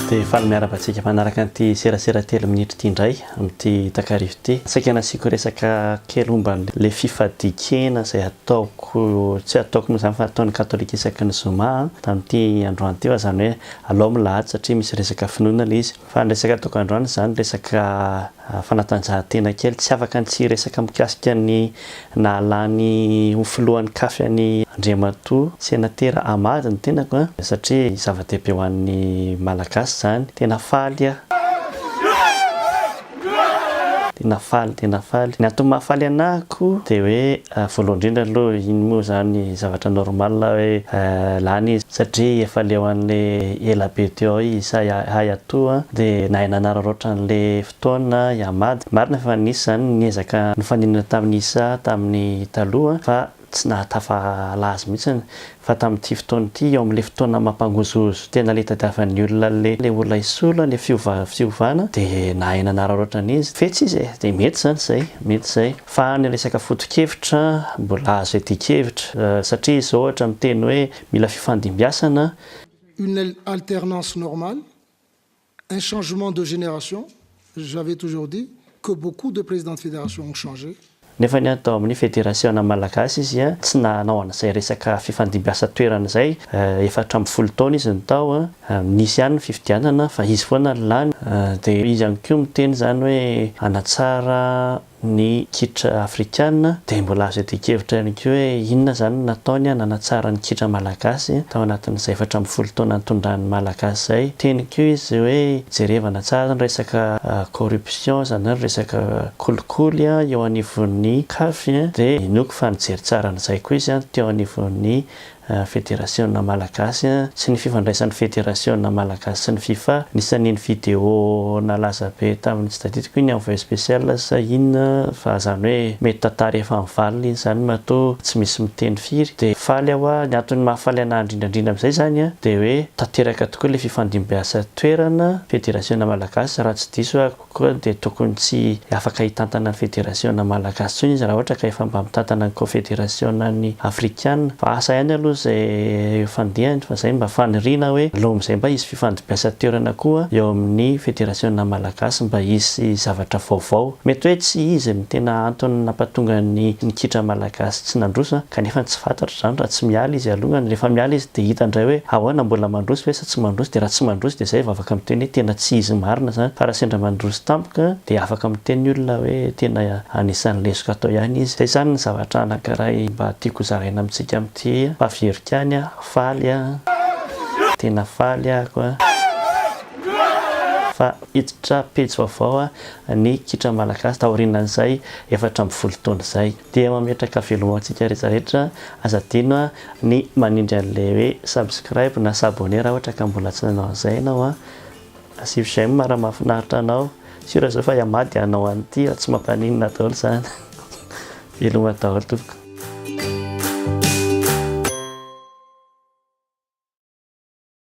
dia faly miaraba antsika manaraka an'ity serasera telo minitra ity indray amin'ity takarivo ity. Saika nasiako resaka kely omba le fifadikena izay ataoko, tsy ataoko moa izany fa ataon'ny katolika isaky ny zoma, tamin'ity androany ity fa izany hoe alao milahady satria misy resaka finoana le izy. Fa ny resaka ataoko androany izany resaka fanatanjahantena kely, tsy afaka ny tsy hiresaka mikasika ny nahalany ho filohan'ny Caf an'i Andriamatoa Senatera Ahmad ny tenako satria zava-dehibe ho an'ny Malagasy izany. Tena faly aho. Tena faly, tena faly. Ny antony mahafaly anahako dia hoe Voalohany indrindra aloha iny moa izany zavatra normal hoe lany izy satria efa leo an'le ela be teo ao izy sa hay atoa an de nahay nanararaotra an'le fotoana hihamady. Marina fa nisy izany niezaka nifaninana tamin'isa tamin'ny taloha fa tsy nahatafa hala azy mihitsy Fa tamin'ity fotoana ity, ao amin'ilay fotoana mampangozohozo tena ilay itadiavan'ny olona an'ilay ilay olona hisolo an'ilay fiova fiovana dia nahay nanararaotra ny izy. Fetsy izy e! Dia mety izany izay, mety izay. Fa any resaka foto-kevitra, mbola azo iadian-kevitra. Satria izao ohatra miteny hoe mila fifandimbiasana. Une alternance normale. Un changement de génération, j'avais toujours dit que beaucoup de présidents de fédération ont changé. Nefa ny ahy tao amin'ny federasiona malagasy izy tsy nanao an'izay resaka fifandimbiasa toerana izay, efatra ambin'ny folo taona izy no tao, nisy ihany ny fifidianana fa izy foana no lany, dia izy ihany koa miteny izany hoe hanatsara Ny kitra afrikana dia mbola azo iadian-kevitra ihany koa hoe inona izany no nataony hanatsara ny kitra malagasy tao anatin'izay efatra ambin'ny folo taona nitondrany ny malagasy izay. Teny koa izy hoe jerevana tsara ny resaka corruption izany hoe ny resaka kolikoly eo anivon'ny caf dia inoako fa nijery tsara an'izay koa izy teo anivon'ny Federasiona Malagasy sy ny fifandraisan'ny Federasiona Malagasy sy ny Fifa. Anisan'iny video nalaza be tamin'ny tsy tadidiko iny envoyé spécial sa inona fa izany hoe mety tantara efa mivalona iny izany matoa tsy misy miteny firy dia faly aho a! Ny antony mahafaly an'ahy indrindra indrindra amin'izay izany a dia hoe tanteraka tokoa ilay fifandimbiasa toerana Federasiona Malagasy raha tsy diso aho. Koa dia tokony tsy afaka hitantana ny federasiona malagasy intsony izy raha ohatra ka efa mba mitantana ny kofederasiona ny afrikana. Fa asa ihany aloha izay eo fandehany fa izay mba faniriana hoe aleo amin'izay mba hisy fifandimbiasan toerana koa eo amin'ny federasiona malagasy mba hisy zavatra vaovao. Mety hoe tsy izy no tena antony nampatonga ny ny kitra malagasy tsy nandroso an! kanefa tsy fantatra izany raha tsy miala izy alohany. Rehefa miala izy dia hita indray hoe ahoana mbola mandroso ve? tsy mandroso dia raha tsy mandroso dia zay vao afaka miteny hoe tena tsy izy marina zany fa raha sendra mandroso tampoka dia afaka miteny ny olona hoe tena anisan'ny lesoka atao ihany izy. Zay zany ny zavatra anakiray mba tiako hozaraina amintsika amin'ity mpaviorika any a! faly a! tena faly aho ko fa hiditra pejy vaovao ny kitra malagasy taorinan'izay efatra ambin'ny folo taona izay dia mametraka veloma ho antsika rehetra rehetra aza adino ny manindry anle hoe subscribe na s'abonner raha ohatra ka mbola tsy nanao an'izay ianao an! Asio j'aime raha mahafinaritra anao! Sûr izao fa hihamady hanao an'ity aho tsy mampaninona daholo izany! Veloma daholo tompoko!